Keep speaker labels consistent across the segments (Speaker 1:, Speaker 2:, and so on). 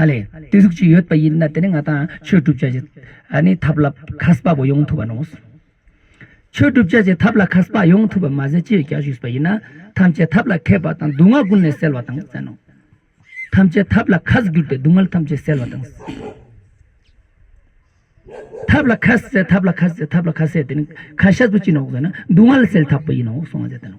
Speaker 1: ཨ་ལས། བརྟུལ་ཞུགས་ཅིག་ཡོད་པ་ཡིན་ན་དེ་ནི་ང་དང་ཆོས་བསྒྲུབ་བྱ་ཞིག་ནི་ཐབས་ལ་ཁ་གསབ་པ་ཡོང་ཐུབ་པ་ནོ། ཆོས་བསྒྲུབ་བྱ་ཞིག་ཐབས་ལ་ཁ་གསབ་པ་ཡོང་ཐུབ་པ་མ་ཟད་ཅི་ཡོད་བསྐྱར་ཞུས་པ་ཡིན་ན་ཐམས་ཅད་ཐབས་ལ་མཁས་པ་དང་སྡུག་བསྔལ་ཀུན་ནས་སེལ་བ་དང་བསྲན་ནོ། ཐམས་ཅད་ཐབས་ལ་ཁ་བསྒྱུར་ཏེ་སྡུག་བསྔལ་ཐམས་ཅད་སེལ་བ་དང། ཐབས་ལ་ཁ་གསལ་ཐབས་ལ་ཁ་གསལ་ཐབས་ལ་ཁ་གསལ་དེ་ནི་ཁ་ཤ་ཚུལ་ཅི་ནོ་བསྲན་ན་སྡུག་བསྔལ་སེལ་ཐབས་ཡིན་ནོ་གསུང་བ་མཛད་དོ།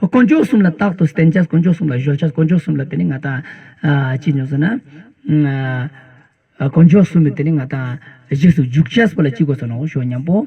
Speaker 1: དཀོན་མཆོག་གསུམ་ལ་རྟག་ཏུ་བརྟེན་བྱ་དཀོན་མཆོག་གསུམ་ལ་གཞོལ་བྱ་དཀོན་མཆོག་གསུམ་ལ་བརྟེན་ནས་ང་དང། ཅི་ཉོན་ཟེར་ན། དཀོན་མཆོག་གསུམ་ལ་བརྟེན་ནས་ང་དང། རྗེས་སུ་འཇུག་བྱ་སོགས་ལ་ཅི་དགོས་སོ་ནོ་ཞོ་སྙམ་པོ།